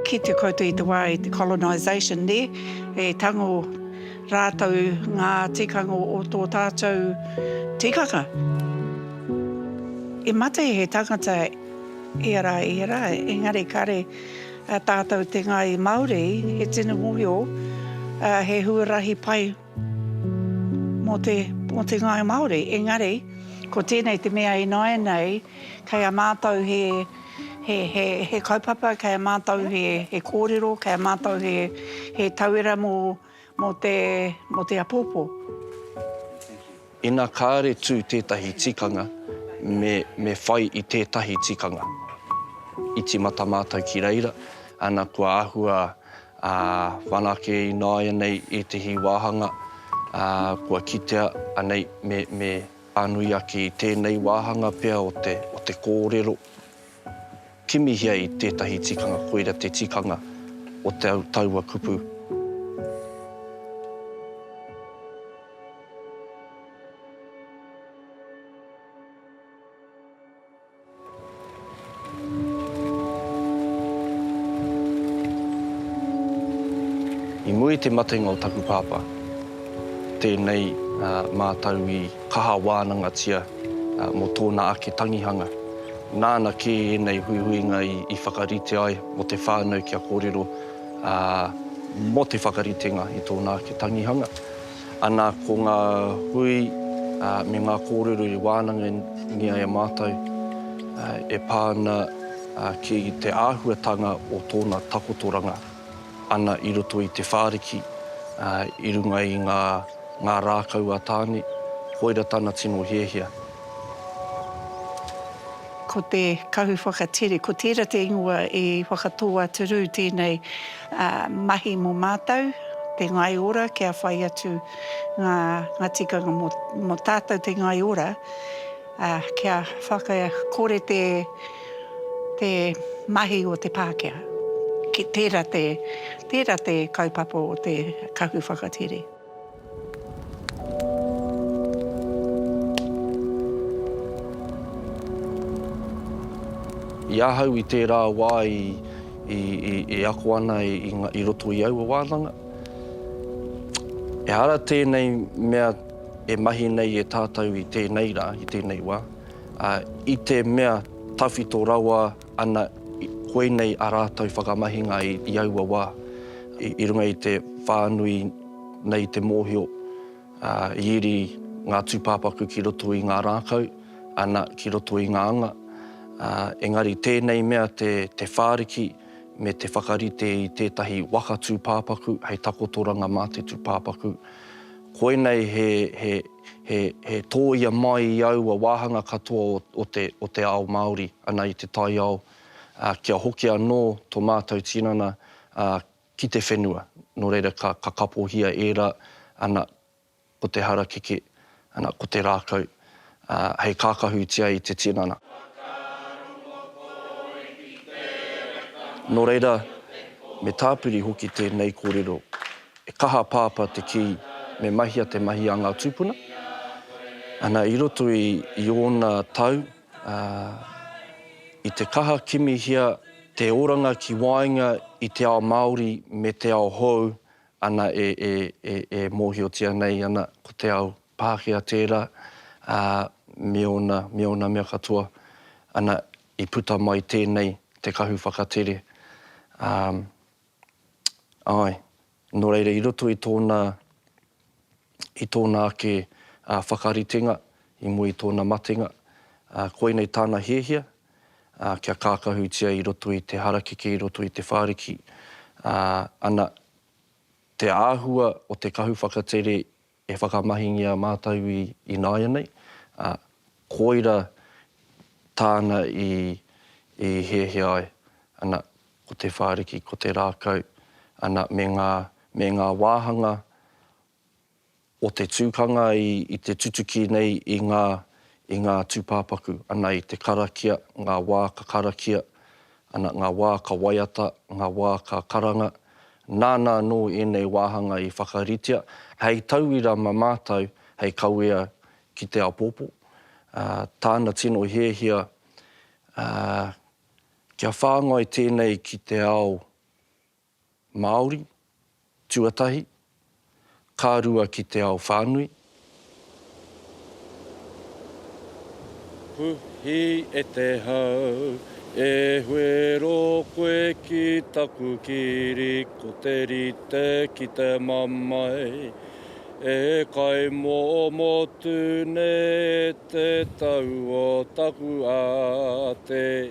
Kitea koutou i te wā i te colonisation nē, e tango rātou ngā tikanga o tō tātou tikanga. I mate he tangata ia rā, ia rā, engari kāre A tātou te Ngāi Māori, he tino mohio, he huarahi pai mō te mō te Ngāi Māori. Engari, ko tēnei te mea ināianei, kei a mātou he he he he kaupapa, kei a mātou he he kōrero, kei a mātou he he tauira mō mō te, mō te apōpō. Ina kāre tū tētahi tikanga, me, me whai i tētahi tikanga. I timata mātou ki reira, ana kua āhua ā, whanake ināianei ētahi wāhanga, ā, kua kitea anei me, me pānui ake i tēnei wāhanga pea o te, o te kōrero. Kimihia i tētahi tikanga koira te tikanga o te au taua kupu. I muri te matenga o taku pāpā, tēnei mātau i. kaha wānangatia mō tōna ake tangihanga. Nāna kē ēnei huihuinga i whakarite ai mō te whānau kia kōrero mō te whakaritenga i tōna ake tangihanga. Ana ko ngā hui me ngā kōrero i wānangia e mātou e pā ana ki te āhuatanga o tōna takotoranga. ana i roto i te whāriki, ā, i runga i ngā, ngā rākau a Tāne, koira tana tino hiahia. Ko te kahu whakatere, ko tērā te ingoa i whakatō a Turū tēnei mahi mō mātou, te ngai ora kia whai atu ngā, ngā tikanga mō, mō tātou te ngai ora, ā, kia whaka, kore te. te mahi o te Pākehā. Tērā te, tērā te kaupapa o te kahu whakatere. I ahau i tērā wā i, i, i, e ako ana i, i, i roto i aua wānanga, ehara tēnei mea e mahi nei e tātou i tēnei rā, i tēnei wā, Ā, i te mea tawhito rawa ana koinei ā rātou whakamahinga i aua wā, i runga i te whānui nei te mōhio, ā, i iri ngā tūpāpaku ki roto i ngā rākau, ana, ki roto i ngā anga, ā, engari tēnei mea te whāriki me te whakarite i tētahi waka tūpāpaku hei takotoranga mā te tūpāpaku, koinei he, he. He tōia mai i aua wāhanga katoa o te ao Māori ana i te taiao, kia hoki anō tō mātou tinana ki te whenua. Nō reira, ka kapohia ērā, ana, ko te harakeke, ana, ko te rākau, hei kākahutia i te tinana. Nō reira, me tāpiri hoki tēnei kōrero. E kaha a Pāpā te kī me mahia te mahi a ngā tūpuna. Ana, i roto i ōna tau, ā, i te kaha kimihia te oranga ki waenga i te ao Māori me te ao hou, ana, e, e, e, e mōhiotia nei ana ko te ao Pākehā tērā, ā, me ōna, me ōna mea katoa, ana, i puta mai tēnei te kahu whakatere, ā. Āe. Nō reira, i roto i tōna, i tōna ake whakaritenga i mua i tōna matenga, koinei tāna hiahia, kia kākahutia i roto i te harakeke, i roto i te whāriki, ana, te āhua o te kahu whakatere E whakamahingia mātou i ināianei, ā, koira tāna i hiahia ai, ana, ko te whāriki, ko te rākau, ana, me ngā, me ngā wāhanga o te tukanga i te tutuki nei i ngā, i ngā tūpāpaku, ana, i te karakia, ngā wā ka karakia, Ana ngā wā ka waiata, ngā wā ka karanga, nāna anō ēnei wāhanga i whakaritea hei tauira mā mātou hei kawea ki te āpōpō, ā, tāna tino hiahia, ā, kia whāngai tēnei ki te ao Māori, tuatahi, ka rua ki te ao whānui. Puhi e te hau, e huero koe ki taku kiri ko te rite ki te mamae E kaimomo tu nei e te tau o taku ate.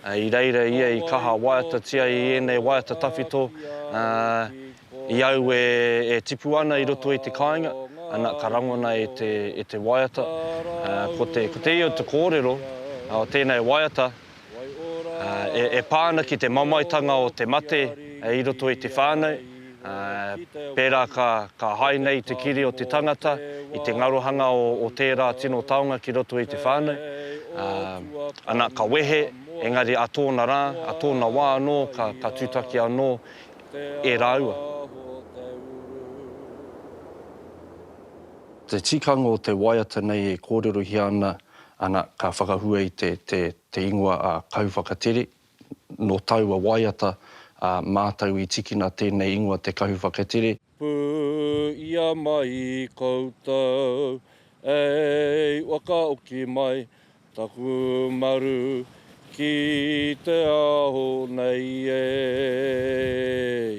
I reira ia i kaha waiatatia i ēnei waiata tawhito, ā, i aue e tipu ana i roto i te kāinga, ana, ka rangona e te, e te waiata. Ā, ko te, ko te io te kōrero o tēnei waiata, ā, e, e pā ana ki te mamaetanga o te mate i roto i te whānau, pērā ka hae nei te kiri o te tangata i te ngarohanga o tērā tino taonga ki roto i te whānau, ana, ka wehe, engari ā tōna rā, ā tōna wā anō ka tūtaki anō e rāua. Te tikanga o te waiata nei e kōrerohia ana, ana, ka whakahua i te ingoa a Kauwhakatere, Nō taua waiata a mātou i tikina tēnei ingoa Te Kahu Whakatere. Pū ia mai koutou ei wakaoki mai taku maru ki te ao nei ei.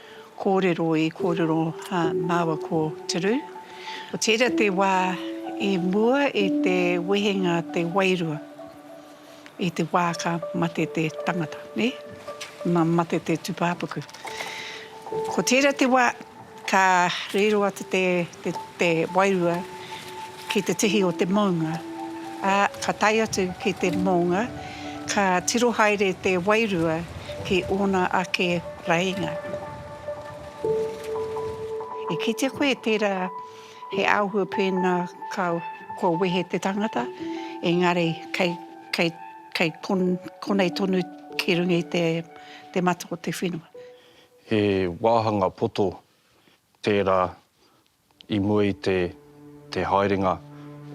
Kōrero i kōrero māua ko Te Rū. Ko tērā te wā i mua i te wehenga te wairua i te wā ka mate te tangata, nē? Nā mate te tūpāpaku. Ko tērā te wā ka riro atu te wairua. Ki te tihi o te mounga, ā, ka tae atu ki te moonga, ka tiro haere te wairua ki ōna ake rainga. E kitea koe tērā he āhua pēnā ka, kua wehe te tangata, engari kei, kei, kei kon, konei tonu ki runga i te, te mata o te whenua. He wāhanga poto tērā I mua i te, te haerenga,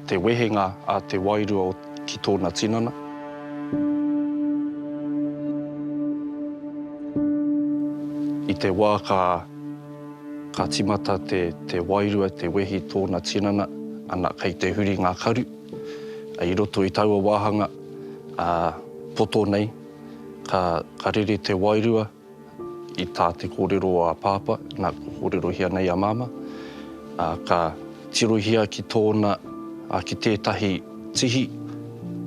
te wehenga a te wairua o, ki tōna tinana. I te wā ka, ka timata te, te wairua te wehi tōna tinana, ana, kei te huri ngā karu. I roto i taua wāhanga, ā, poto nei, ka, ka rere te wairua. I tā te kōrero o a Pāpā, nā, kua kōrerohia nei a Māmā, ā, ka tirohia ki tōna, ā, ki tētahi tihi,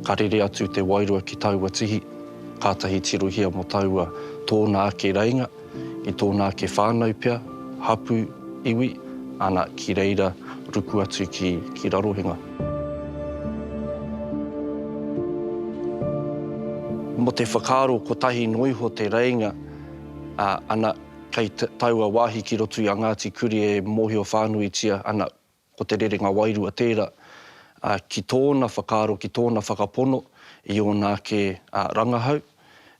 ka rere atu te wairua ki taua tihi, kātahi tirohia mō taua tōna ake reinga, i tōna ake whānau pea, hapū, iwi, ana, ki reira ruku atu ki, ki Rarohenga. Mo te whakaaro kotahi no iho te reinga, a, ana, kei taua wahi ki roto i a Ngati Kuri e mohio whanuitia ana ko te rerenga wairua tera, a, ki tona whakaaro, ki tona whakapono i ona ake, a, rangahau,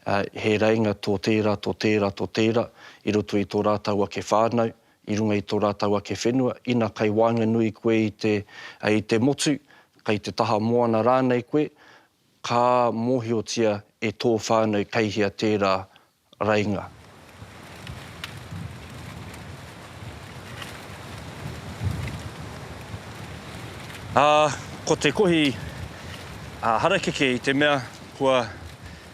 a, he reinga to tera, to tera, to tera i roto i to ratou ake whanau, i runga i tō rātou ake whenua, ina kei waenganui koe i te, i te motu, kei te taha moana rānei koe, ka mōhiotia e tō whānau kei hea tērā rainga. Ā, ko te kohi harakeke i te mea kua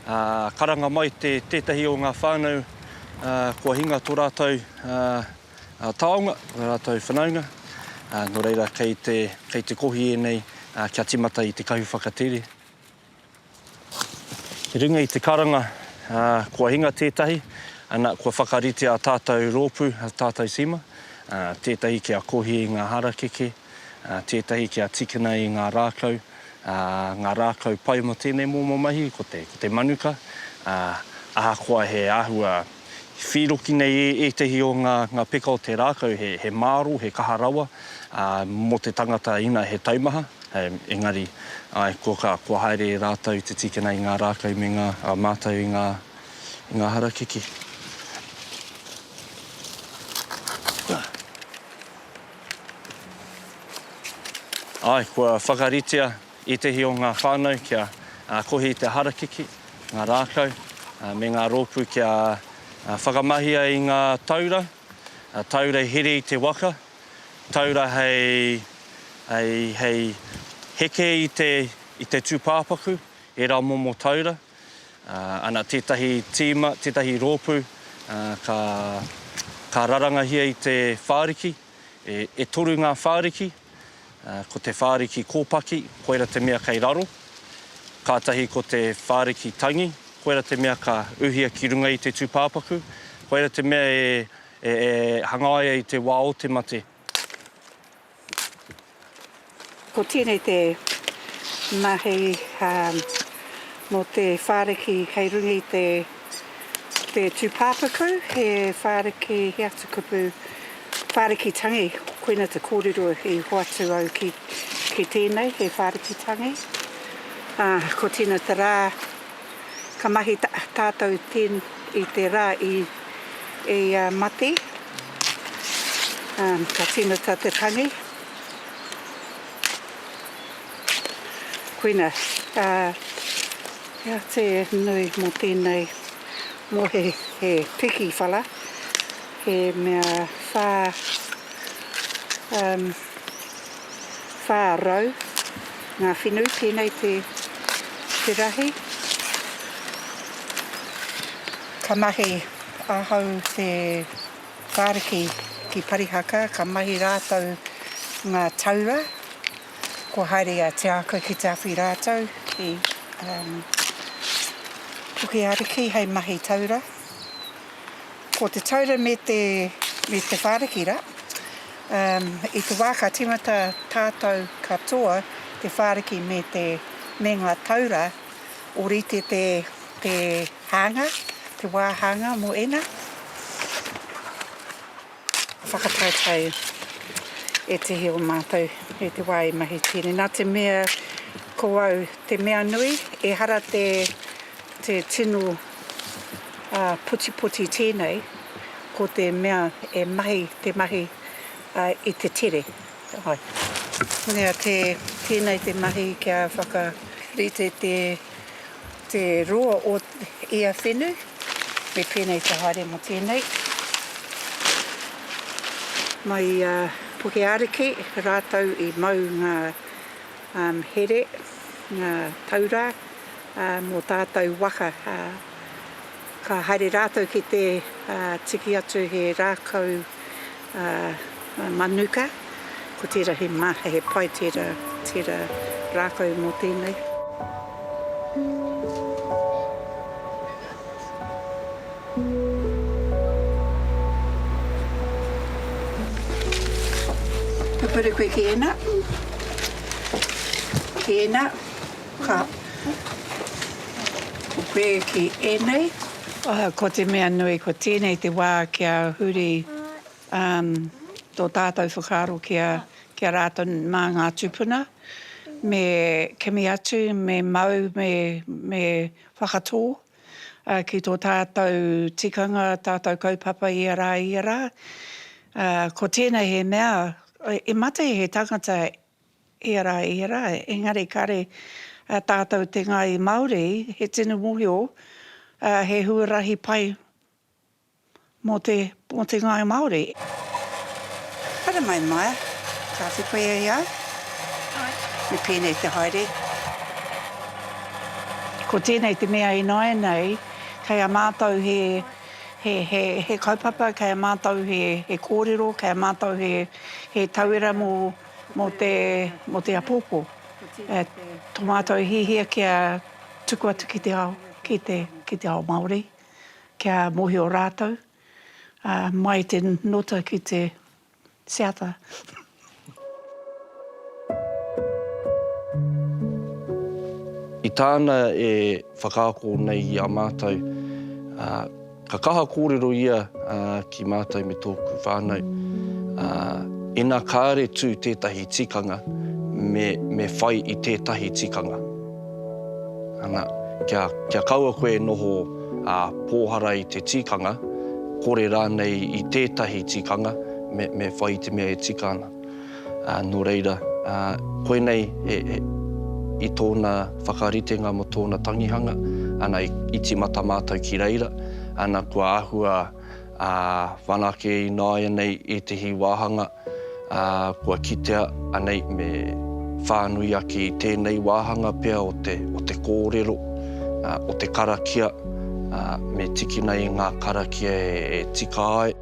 Karanga mai tētahi o ngā whānau kua hinga tō rātou taonga, ō rātou whanaunga, nō reira kei te kohi ēnei kia tīmata i te kahu whakatere. I runga i te karanga kua hinga tētahi, ana, kua whakarite ā tātou rōpū, ā tātou tīma, tētahi kia kohi i ngā harakeke, tētahi kia tīkina i ngā rākau, ngā rākau pai mō tēnei momo mahi ko te, ko te manuka, ā, ahakoa he āhua whīroki nei e ētahi o ngā, ngā peka o te rākau, he, he māro, he kaha rawa, ā, mō te tangata ina he taumaha, engari, āe, kua ka, kua haere rātou te tīkina i ngā rākau me ngā, ā, mātau i ngā, i ngā harakeke. Āe, kua whakaritea ētehi o ngā whānau kia kohi i te harakeke, ngā rākau, me ngā rōpū kia whakamahia i ngā taura, taura i here i te waka, taura hei heke i te tūpāpaku, ērā momo taura. Ana tētahi tīma, tētahi rōpū ka rarangahia i te whāriki, e toru ngā whāriki, ko te whāriki kōpaki, koira te mea kei raro, kātahi ko te whāriki tangi, koira te mea ka uhia ki runga i te tūpāpaku, koira te mea e hangaia i te wā o te mate. Ko tēnei te mahi mō te whāriki kei runga i te tūpāpaku, he whāriki, he atu kupu, whāriki tangi, koina te kōrero i hoatu au ki tēnei, he whāriki tangi. Ko tēnei te rā. Ka mahi tātou i te rā i ia mati. Ka tīmata te tangi. Koina. Hea te nui mō tēnei, mō he piki whara, he mea whā. 400 ngā whenu, tēnei te rahi. Ka mahi ahau te whāriki ki Parihaka, ka mahi rātou ngā taura, kua haere a Te Ākau ki te awhi rātou ki Pukeariki hei mahi taura. Ko te taura me te whāriki rā. I te wā ka tīmata tātou katoa, te whāriki me te, me ngā taura, ōrite te, te hānga, te wā hānga mō ēnā whakataetae ētehi o mātou i te wā i mahi tīni. Nā te mea ko au te mea nui, ehara te, Te tino putipoti tēnei, ko te mea e mahi te mahi i te tere. Nea tēnei te mahi kia whakarite te roa o ia whenu, me pēnei te haere mō tēnei. Mai i a Pukeariki rātou i mau ngā here, ngā taura. mō tātou waka, ka haere rātou ki te tiki atu he rākau manuka, ko tērā he maha, he pai tērā, tērā rākau mō tēnei. Ka puri koe ki ēnā, ki ēnā. Ka puke ki ēnei. Oho, ko te mea nui, ko tēnei te wā kia huri tō tātou whakaaro ki a rātou mā ngā tūpuna, me kimi atu, me mau, me whakatō ki tō tātou tikanga, tātou kaupapa ia rā, ia rā. Ko tēnei he mea, e mate he tangata Ērā, ērā, engari kāre tātou te Ngāi Māori, he tino mōhio, he huarahi pai mō te, mō te Ngāi Māori. Haere mai, Maia. Ka whiwhi koe e au? Āe. Me pēnei te haere. Ko tēnei te mea ināianei, kei a mātou he, he, he, he kaupapa, kei a mātou he, he kōrero, kei a mātou he, he tauira mō. mō te, mō te apōpō, e, tō mātou hihia kia tuku atu ki te ao, ki te, ki te ao Māori, kia mōhio rātou, ā, mai i te nota ki te seata. I tāna e whakaako nei i a mātou, ā, Ka kaha kōrero ia ki mātou me tōku whānau. Ina kāre tū tētahi tikanga, me whai i tētahi tikanga. Ana, kia kaua koe e noho pōhara i te tikanga, kore rānei i tētahi tikanga, me whai i te mea e tika ana. Nō reira, koinei i tōna whakaritenga mō tōna tangihanga, ana, i tīmata mātou ki reira, ana, kua āhua whanake ināianei ētehi wāhanga kua kitea anei me whānui ake i tēnei wāhanga pea o te kōrero, o te karakia, me tikina i ngā karakia e tika ai.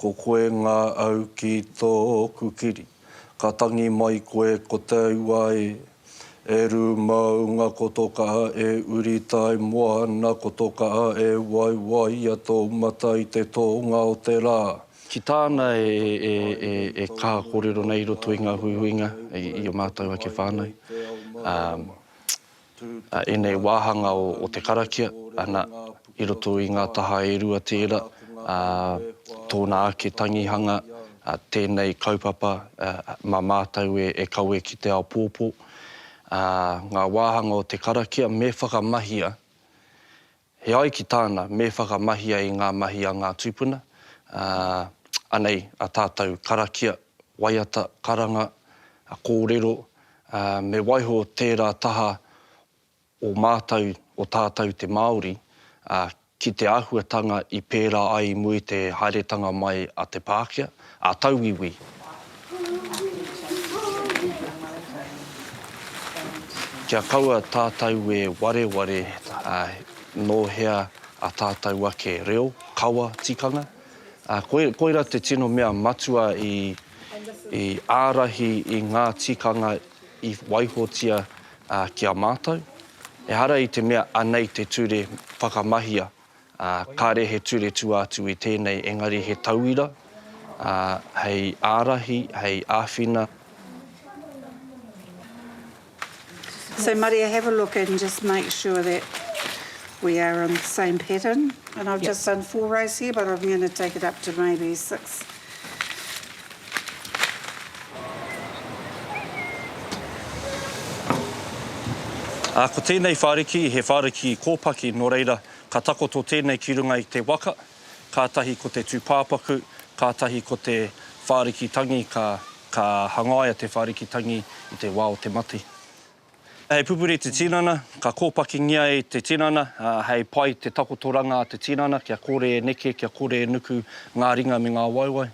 Ko koe ngā au ki tōku kiri Ka tangi mai koe ko te ua e E rū maunga ko tō kaha e uri Tai moana ko tō kaha e waiwaia tō mata i te tōnga o te rā. Ki tāna e kaha kōrero nei i roto i ngā huihuinga i ō mātou ake whānau. a ēnei wāhanga o te karakia, ana, i roto i ngā taha e rua tērā, ā, tōna ake tangihanga, ā, tēnei kaupapa, ā, mā mātou e, e kawe ki te ao pōpō. Ā, ngā wāhanga o te karakia me whakamahia He ai ki tāna, me whakamahia i ngā mahi a ngā tūpuna, ā, anei a tātou karakia, waiata, karanga, kōrero, ā, me waiho tērā taha o mātou, o tātou te Māori, ā, ki te āhuatanga i pērā ai mui te haeretanga mai a te Pākehā. a tauiwi. Kia kaua tātou e wareware nō hea a tātou ake reo, kawa, tikanga, koira te tino mea matua i ārahi i ngā tikanga i waihotia ki a mātou. Ehara i te mea anei te ture whakamahia. ā, kāre he ture tua atu i tēnei engari he tauira, ā, hei ārahi, hei āwhina. So Maria have a look and just make sure that we are on the same pattern and I've just done four rows here but I'm going to take it up to maybe six. Ā, ko tēnei whāriki, he whāriki kōpaki, nō reira, ka takoto tēnei ki runga i te waka, kātahi ko te tūpāpaku, kātahi ko te whāriki tangi, ka, ka hangaia te whāriki tangi i te wā o te mate. Hei pupuri te tinana, ka kōpakingia e te tinana, hei pai te takotoranga a te tinana kia kore e neke, kia kore e nuku ngā ringa me ngā waewae.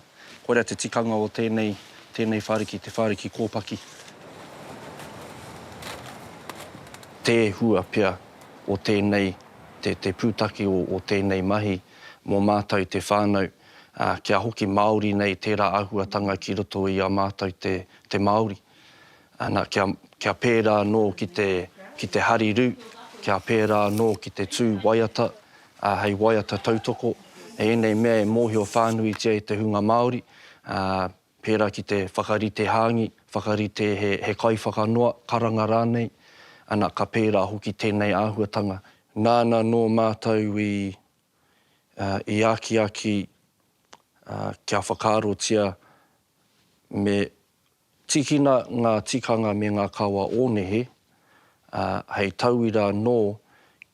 Koira te tikanga o tēnei, tēnei whāriki, te whāriki kōpaki. Te hua pea o tēnei, te, te pūtake o, o tēnei mahi mō mātou te whānau, ā, kia hoki māori nei tērā āhuatanga ki roto i a mātou te, te Māori. Ana, kia, kia pērā anō ki te, ki te hariru, kia pērā anō ki te tū waiata, ā, hei waiata tautoko, hei ēnei mea e mōhio whānuitia e te hunga Māori, ā, pērā ki te whakarite hāngi, whakarite he, he kaiwhakanoa, karanga rānei, ana, ka pērā hoki tēnei āhuatanga. Nāna nō mātou i, ā, i akiaki, ā, kia whakaarotia me Tīkina ngā tikanga me ngā kawa o nehe, ā, hei tauira anō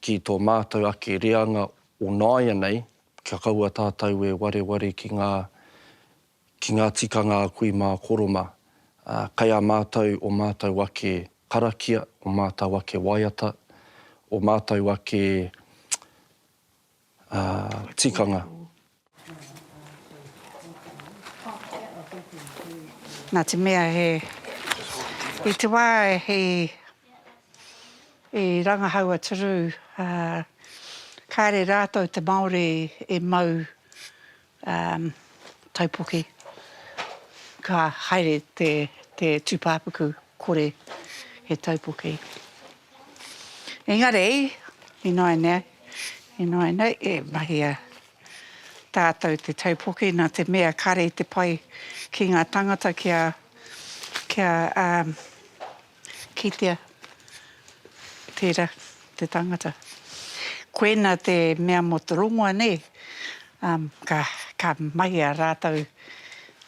ki tō mātou ake reanga o nāianei, kia kaua tātou e wareware ki ngā, ki ngā tikanga a kui mā Koroma. Ā, kei a mātou ō mātou ake karakia, ō mātou ake waiata, ō mātou ake, tikanga. Na te mea he i te wa he i rangahau a Turu a kare ratou te Maori e mau Um, taupoke. Ka haere te, te tūpāpaku kore he taupoke. Engari, ināinā, ināinā, e mahia tātou te taupoke nā te mea kare te pai ki ngā tangata kia, kia, um, Kitea, tera te tangata. Koena te mea mo te rongoa nei, um, ka, ka mahia ratou,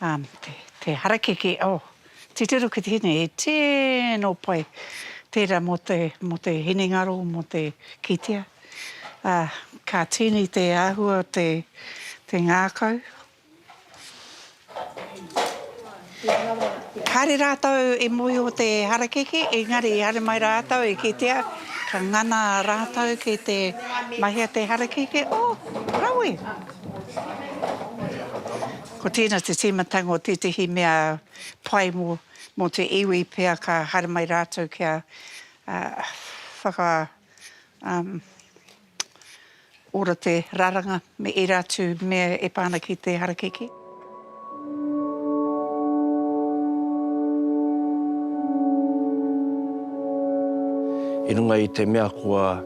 um, te, te harakeke, oh, titiro ki te hine, he tino pai tera mo te, mo te hinengaro, mo te kitea. Uh, ka tini te ahua o te, te ngakau. Kāre rātou i mōhio te harakeke, engari i haere mai rātou i kitea ka ngana rātou ki te mahi a te harakeke, oh, rawe! Ko tēnā te tīmatanga o tētehi mea pai mō te iwi pea ka haere mai rātou kia whaka, um, Ora te raranga me era atu mea e pa ana ki te harakeke. I runga i te mea kua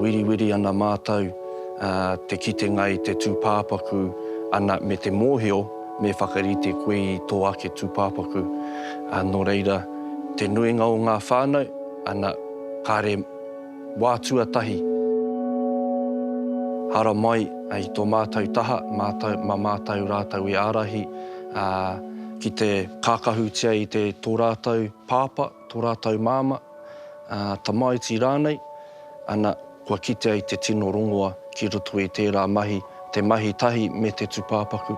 wiriwiri ana mātou te kitenga i te tūpāpaku ana me te mōhio me whakarite koe i tō ake tūpāpaku. Nō reira, te nuinga o ngā whānau, ana, kāre. Wā tuatahi, haramai i tō mātou taha, mā mātou rātou i ārahi ki te kākahutia i tō rātou pāpā, tō rātou māmā, tamaiti rānei, ana, kua kitea i te tino rongoa ki roto i tērā mahi, te mahi tahi me te tūpāpaku.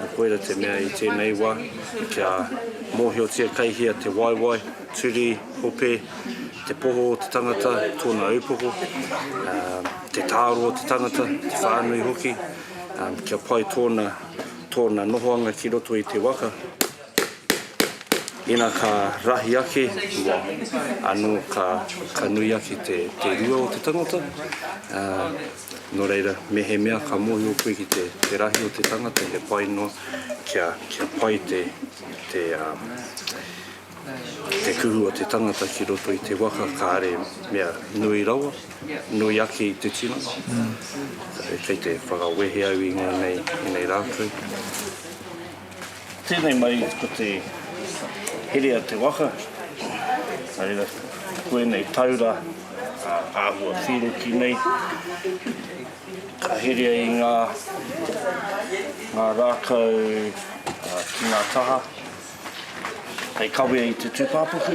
Nā koira te mea i tēnei wā kia mōhiotia kei hea te waewae, turi, hope, te poho o te tangata, tōna ūpoko, te tāro o te tangata, te whānui hoki, kia pai tōna nohoanga ki roto i te waka. Ina ka rahi ake te wa, ano ka ka nui ake te te rua o te tangata, a, no reira, mehemea ka mohio koe ki te te rahi o te tangata he pai noa kia kia pai te te a te kuhu o te tangata ki roto i te waka kare mea nui rawa, nui ake i te tino. Kei te whakawehe au i ngonei i nei ratou. Tēnei mai ko te here a te waka, nā reira ko ēnei taura āhua whīroki nei, ka herea i ngā rākau ki ngā taha hei kawea i te tūpāpaku.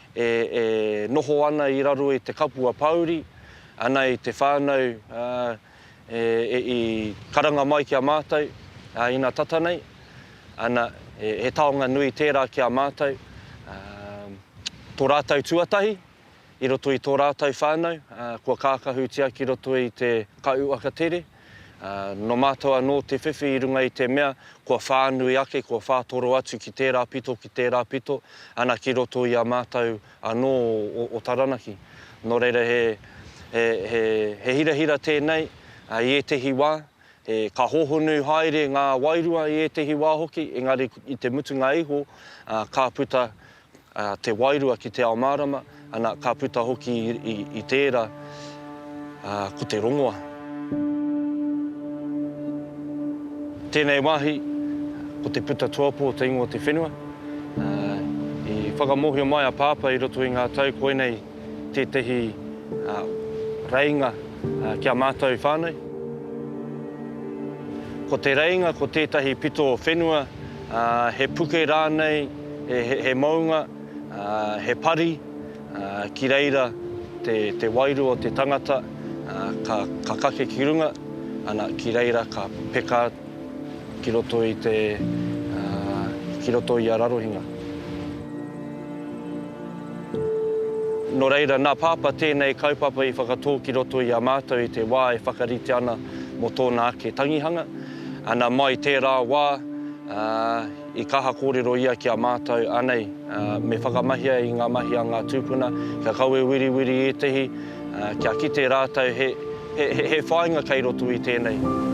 e noho ana i raro i te kapua pāuri, ana i te whānau i karanga mai ki a mātou ina tata nei, ana, he taonga nui tērā ki a mātou, tō rātou tuatahi i roto i tō rātou whānau kua kākahutia ki roto i te Kai Uaka Tere. Nō mātou anō te whiwhi i runga i te mea, kua whānui ake, kua whātoro atu ki tērā pito, ki tērā pito, ana ki roto i a mātou anō o Taranaki. Nō reira, he hirahira tēnei i ētehi wā, ka hōhonu haere ngā wairua i ētehi wā hoki, engari i te mutunga iho, ka puta te wairua ki te ao mārama, ana, ka puta hoki i tērā ko te rongoa. Tēnei wāhi, ko te puta tuapo o te ingoa o te whenua. I whakamōhio mai a Pāpā i roto i ngā tau koinei tētehi reinga ki a mātou whānau. Ko te reinga ko tētahi pito whenua, he puke rānei, he mounga, he pari, ki reira te wairua o te tangata ka kake ki runga, ana, ki reira ka peka ki roto i te, ki roto i a Rarohinga. Nō reira, nā Pāpā tēnei kaupapa i whakatō ki roto i a mātou i te wā e whakaritea ana mō tōna ake tangihanga. Ana mai tērā wā, i kaha kōrero ia ki a mātou, anei, me whakamahia i ngā mahi a ngā tūpuna, kia kawe wiriwiri ētehi, kia kite rātou he whāinga kei roto i tēnei.